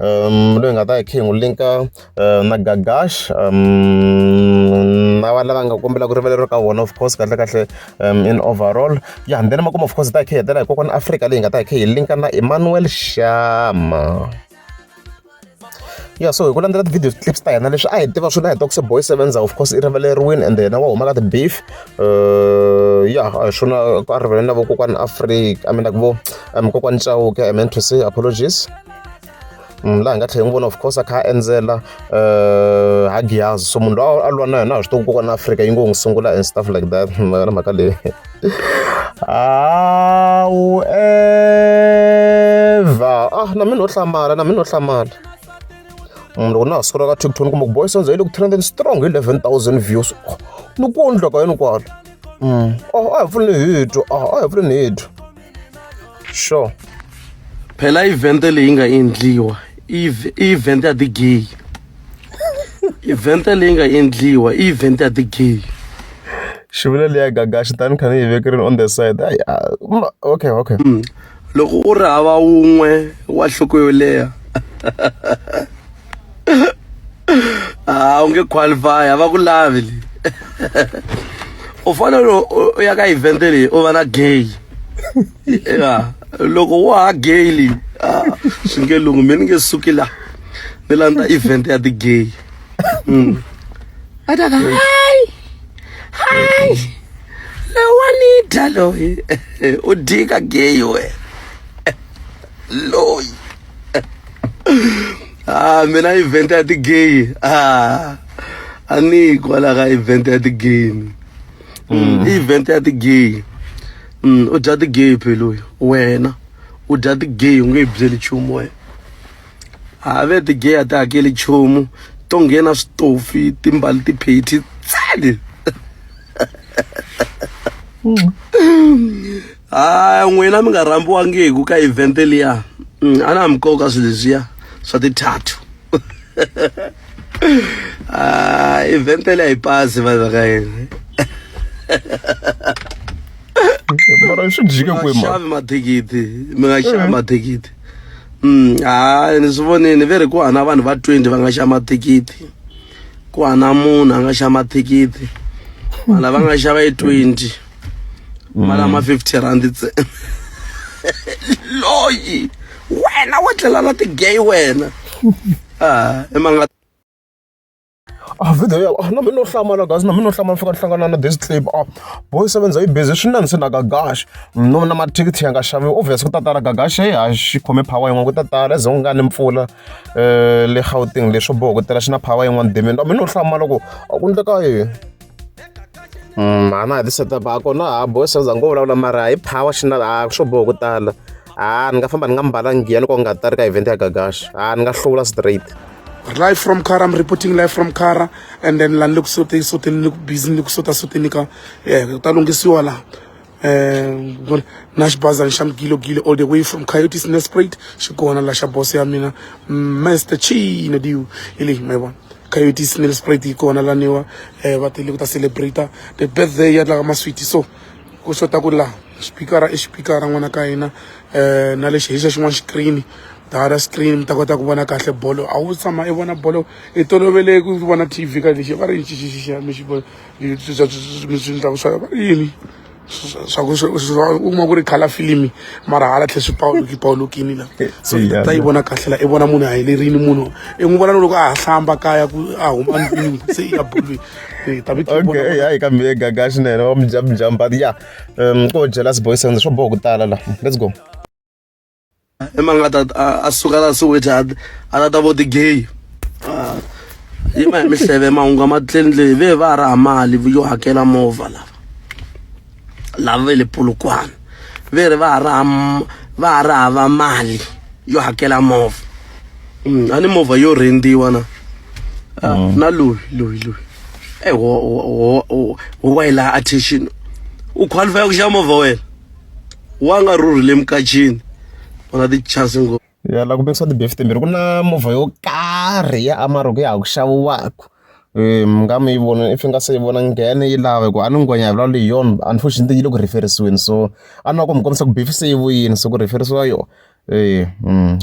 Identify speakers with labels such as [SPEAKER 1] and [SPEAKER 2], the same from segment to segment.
[SPEAKER 1] um loyi hi nga ta hi kha hi n'wi link-a na Gagash na va lava nga kombela ku rivaleriwa ka vona of course kahlekahle um in overall ya then makumu of course hi ta hi kha hi hetelela hi kokwana Afrika leyi nga ta hi kha hi link-a na Emmanuel Shama ya so hi ku landzela ti-video clips ta hina leswi a hi tiva swona hi tokse boy sevenza of course i rivaleriwini and yena wa huma ka ti-beef uh, ya hi swona a rivaleni na vokokwani afrika i mean like vo um kokwani chauke i meant to say apologies Mm, laha nga tlhela n'wi vona of course a kha a endzela um ha giyazi so munhu loyi a lwa na yona a swi tivi ku kona afrika yi ngo n'wi sungula and stuff like that na mhaka leyi however ah na mina no hlamala na mina no hlamala mm, loko na ha sukula ka tikton kumbe ku boy sonzo yi le ku trending strong hi 11000 views oh, ni ku ondla ka yini kwalo mm, oh a hi pfuli ni hito ah, a hi pfuli ni hito sure
[SPEAKER 2] phela event leyi nga endliwa i event ya ti-gay event leyi nga endliwa i event ya ti-gay xivula
[SPEAKER 1] leya gaga xitani kha ni yi vekerini on the side ayi okay okay mm.
[SPEAKER 2] loko u ri hava wun'we wa nhloko yo leha ah u nge qualify a va ku lavi leyi u fanele u ya ka event leyi u va na gay ya loko wa ha gay leyi ah, swi nge lungu mi ni nge suki la ni landza event ya ti-gay mm. va ta ka hayi hayi lowani dya loyi u dyika gay wena loyi ah mina event ya ti-gay ah a ni yi kwala ka event ya ti-gay ni Mm, i event ya ti-gay Mm, u dya ti-gay peloyi wena u dya ti-gay u nge yi byeli nchumu wena ha ve ti-gay a ti hakeli nchumu to nghena switofi timbali tipheti tsali a n'wina mi nga rhambiwangiku ka event liya mm, a na mi koka swilo leswiya swa tithatu ah, event liya yi pasi vanhu ka yini
[SPEAKER 1] mara swi jike kwemaxavi mathikithi
[SPEAKER 2] mi nga xavi eh. mathikithi mm, hayi ni swi vonini ve ri ku hana vanhu va twenty va nga xa mathikithi ku hana munhu a nga xa mathikithi vanhu lava nga xava yi twenty mali ama 50 rand ntsena loyi wena wa tlela na ti-gay wena ah emanga
[SPEAKER 1] a video ya ah, na mina no hlamala guys na mina no hlamala fika ni hlangana na this clip ah boy sevenza yi busy swi nanise na gagash no na mathikithi ya nga xaviwi obvious ku ta tala gagash hey ha xi khome power yin'wana ku ta tala ze ku nga ni mpfula eh le gauteng leswo boho ku tela xi na power yin'wana demini na mina no hlamala ku a ku ndleka yini Mm, a na ha ti-setup a kona ha boy sales a ngo vulavula mara hi power xi na a swo boha ku tala a ni nga famba ni nga mbalangi giya loko nga ta ri ka event ya gagaxa a ni nga hlula straight live from
[SPEAKER 3] Kara. I'm reporting live from Kara. And then land look so they so they look busy look so that's what they nika. Yeah, that long is you all. um na xibazana xa mugilogilo all the way from coyotes nesprate xi kona la xa boss ya mina master chino diu hi leyi ma yi vona coyotes nesprate yi kona laniwa um eh, va tele ku ta celebrate the birthday ya tlaka maswiti so ku xota ku laha xipikara i xipikara n'wana ka hina um na lexi hi xa xin'wana xikirini dara screen mi ta kota ku vona kahle bolo a wu tshama i vona bolo i tolovele ku vona tv ka lexi va ri xixixixa mi xi vona yini swa ku u kuma ku ri khala filimi mara hala tlhe swi pawuluki pawulukini la so ta yi vona kahle la i vona munhu a helerini munhu i n'wi vona loko a ha hlamba kaya ku a huma ndlwini se i ya bolweni
[SPEAKER 1] okay hayi kambe ye gaga swinene wa mujambajamba ya um ko jealous boys and swo boha ku tala la let's go i mani nga ta
[SPEAKER 2] a- a suka la soweto a a ta ta vo ti gay Ah, yi ma hi mihleve mahungu ma tlendle ve va ha raha mali yo hakela movha lava lava ve le polokwane ve ri va ha raha m- va ha ri hava mali yo hakela movha Mm, a ni movha yo rhendiwa na Ah, na loyi loyi loyi e wa yi laha attention u qualify ku xava movha wena wa nga rhurhile emukacini u na tichasi ngopfu ya la ku mikisa ti-beef
[SPEAKER 1] timbirhi ku na movha yo karhi ya amaro ku ya ha ku xaviwaka um mi nga mi yi vona if i nga se yi vona nghene yi lava hikuva a ni ngwenya hi vulavula hi yona unfortunately yi le ku rheferisiweni so a ni lava ku mi kombisa ku beef se yi vuyini so ku rheferisiwa yona Ee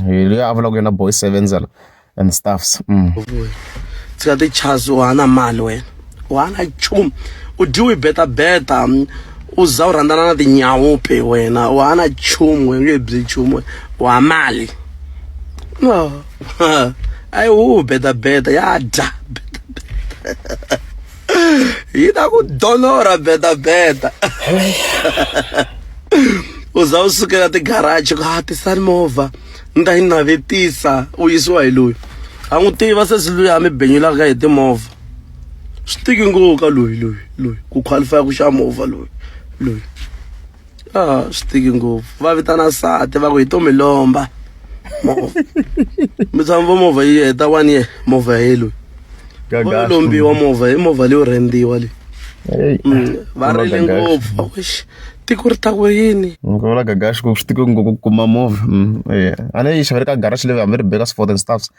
[SPEAKER 1] hi loyi a vulaka ku yena boy sevenzela and staffs
[SPEAKER 2] tshika tichasi u hana mali wena u hana nchumu u dyiwi betabeta u za u rhandzana na tinyawu pe wena u hana nchumu u nge byi nchumu u ha mali no ayi wu betabeta ya dya betabeta yi ta ku donora bedabeda u za u sukela tigaraji ku ha tisani movha ni ta yi navetisa u yisiwa hi loyi a n'wi tiva sesi loyi a mi benyulaka hi timovha swi tiki ngopfu ka loyi loyi loyi ku qualify ku xa movha loyi loyi ah swi tiki ngopfu va vitana sati va ku hi to mi lomba movha mi tshama vo movha yi heta one year movha ya yellow vo lombiwa movha hi movha leyo rendiwa leyi mm, va rile ngopfu vakuxi tiko ri ta ku yini ngivula gagaxi ku
[SPEAKER 1] swi tiko ngopfu ku kuma movha mm, a ne yi xavele ka garaxi leyi hambi ri beka swi for and stuffs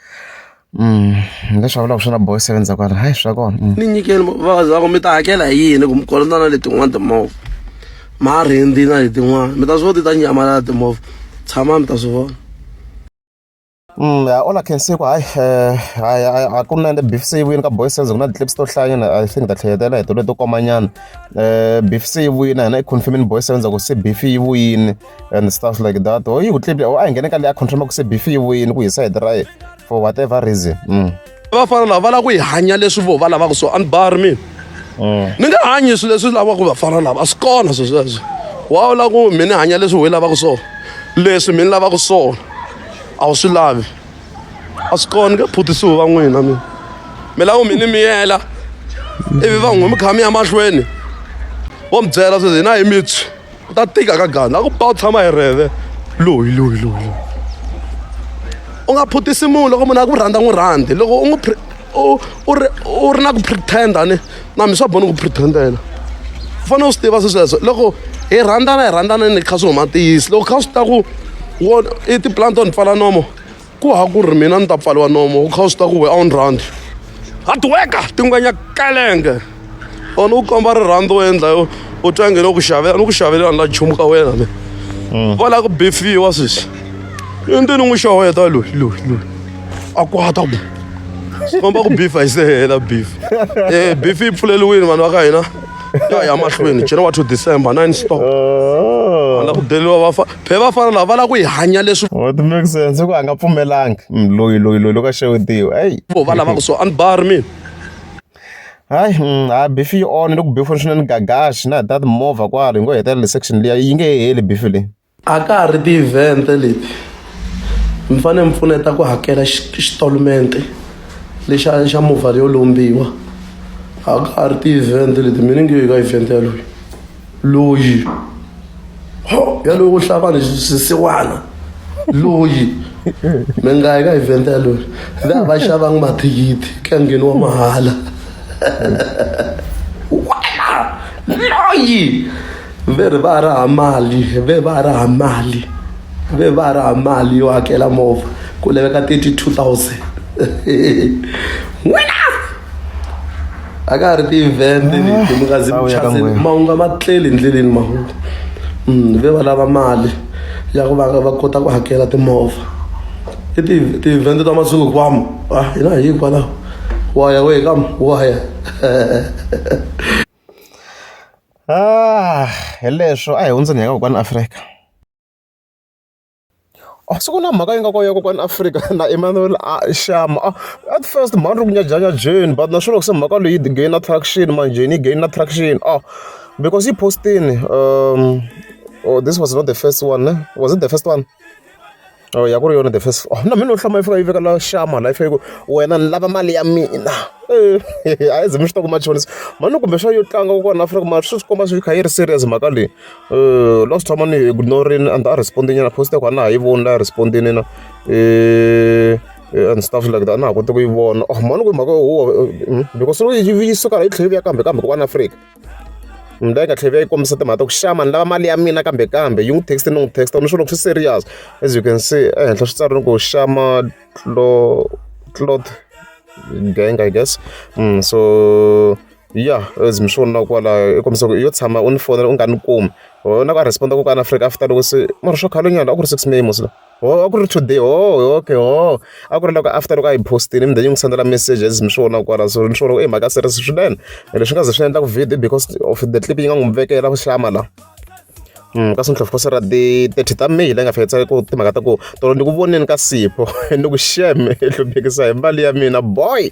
[SPEAKER 1] leswi va vulaka swi na boy seven za kwala hayi swa kona ni nyikeni vavabyi
[SPEAKER 2] vako mi ta hakela hi yini ku mi kolota na letin'wana timovha marindi na letin'wana mi ta swi vona ti ta nyamalala timovha tshama mi ta swi vona Mm, yeah,
[SPEAKER 1] all I can say hayi eh, hayi a ku na beef se yi vuyini ka boy sense ku na ti-clips to hlayanyana i think ta tlheketela hi tolo to komanyana um eh, beef se yi vuyini a hina i confirmini boy sense ku se beef yi vuyini and stuff like that or yi ku tlipya or a hi nghene ka leyi a confirma ku se beef yi wini ku hi side ra ye for whatever reason mm. vafana lava
[SPEAKER 2] va lava ku yi hanya leswi vo va lavaka so anibari mina mm. ni nga hanyi swilo leswi lavaka vafana lava a swi kona swi sweswo wa wu lava ku mi ni hanya leswi hi lavaka swona leswi mi ni lavaka swona a wu swi lavi a swi kona nge phutisiwi va n'wina mina mi lava ku mi ni miyela ivi va n'wi mi kha mi ya mahlweni vo mi byela sweswi hina hi mitswi ku ta tika ka gana a ku ba u tshama hi rheve loyi loyi loyi loyi u nga phutisi munhu loko munhu a ku rhandza n'wi rhandzi loko u n'wi u ri u ri na ku pretenda ni na mi swa boni ku pretendela u fanele u swi tiva swi sweswo loko hi rhandzana hi rhandzana ni kha swi huma ntiyisi loko kha swi ta ku wo i tipulani to ni pfala nomo ku ha ku ri mina ni ta pfaliwa nomo wu kha wu swi ta ku we a wu ni rhandzi hadiweka tingwenya kalenge or ni ku komba rirhandzu wo endla yo u twa nge ni ku xavela ni ku xavelela ni la nchumu ka wena me mm. va lava ku bifiwa sweswi i ni n'wi xaweta loyi loyi loyi a kwata ku komba ku bifa yi se hela bif e eh, bif yi pfuleliwini vanhu va ka hina ya ya mahlweni january to december nine stop oh. a la ku deliwa va be vafana lava va lava ku yi hanya leswi what makes sense ku
[SPEAKER 1] a nga pfumelanga mm, loyi loyi loyi loko a xewetiwa eyi vo va lavaka so
[SPEAKER 2] a ni bari mina hayi mm,
[SPEAKER 1] a bifi yi onhe loko bifi ri swinene gagaxi na hi ta timovha kwalo hi ngo hetelela le section liya yi nge he heli bifi leyi a ka ha ri
[SPEAKER 2] ti-event leti mi fanele mi pfuneta ku hakela xitolumente lexa xa movha leyo lombiwa a ka ha ri ti-event leti mina nge ka event yaloyi loyi ho yalowo wo hlaya vanhu swisiwana loyi mi nga yi ka event yaloyo le a va xavanga mathikithi ka ngheni wa mahala wena loyi ve ri va raha mali ve va raha mali ve va raha mali yo hakela movha ku laveka thirty two thousand n'wina a ka ha ri ti-event leti mi nga zi mi chazile mahungu a ma tleli hi ndleleni mahungu ve va lava mali ya ku va va kota ku hakela timovha i ti ti-event ta masiku hinkwawo a hina hi hikwalaho wa ya wehe ka wa ya
[SPEAKER 1] hi leswo a hi hundzeni hi ya ka kokwani Afrika. A swi ku na mhaka yi nga kona ya ku kwala Afrika na Emmanuel Shama. At first mhani ri ku nyajanyaje but na swona loko se mhaka leyi yi gain traction manjheni yi gain traction because yi post-ini or this was not the first one ne was it the first one or ya ku ri yona the first one na mina no hlaya yi fika yi veka la Shama la yi fika yi ku wena ni lava mali ya mina a hi ze mi swi twa ku machonisa mhani kumbexana yo tlanga kwala Afrika mara swi swi komba swi kha yi ri serious mhaka leyi. last time a ni yi ignore-rile a ndza ha respond-i nyana post ya kona a na ha yi voni la respond-ini na and stuff like that a na ha koti ku yi vona oh mhani ku mhaka huwa because loko yi yi suka la yi tlhela yi vuya kambe kambe kun'wana afrika ni la yi nga tlhela yi vuya yi kombisa timhaka ta ku xama ni lava mali ya mina kambe kambe yi n'wi text ni n'wi text ni swi loko swi serious as you can see ehenhla swi tsarile ku xama clo cloth gang i guess so ya as mi swi vonaka kwalaho i kombisa ku yo tshama u ni fonela u nga ni kumi ho na ku a respond-a ku kwala afrika after loko se mara swa khale nyana a ku ri six may mosla ho a ku ri today ho okay ho a ku ri loko after loko a yi postile mi then yi n'wi sendela message as mi swi vonaka kwala so ni swi vona ku i mhaka series swinene leswi nga ze swi endlaku video because of the clip yi nga n'wi vekela ku hlama la Mm, ka sintlhofu kosera ti thirty ta may leyi nga fikisa ku timhaka ta ku tolo ni ku voneni ka sipho ni ku shame i hluphekisahi mali ya mina boy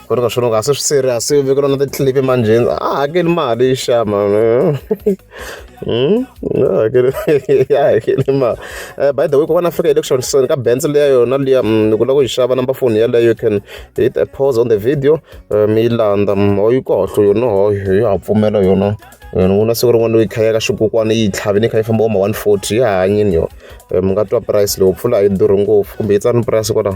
[SPEAKER 1] ku ri ka swona a se swi serious se vekela na ti-clip emanjheni a hakeli mali yi xama Hmm? Ah, ya hakeli ma eh, by the way kokwana afika election son ka benz leya yona liya mm, ni ku lava ku yi xava number phone yeleyo you can hit a pause on the video eh, mi yi landza mm, ho yi kahle yona ho yi ha pfumela yona yona ku na siku rin'wana yi khaya ka xikukwana yi tlhavi ni kha yi famba oma one forty yi hanyini yo eh, mi nga twa price leyo pfula a yi durhi ngopfu kumbe yi tsari ni price kwalaho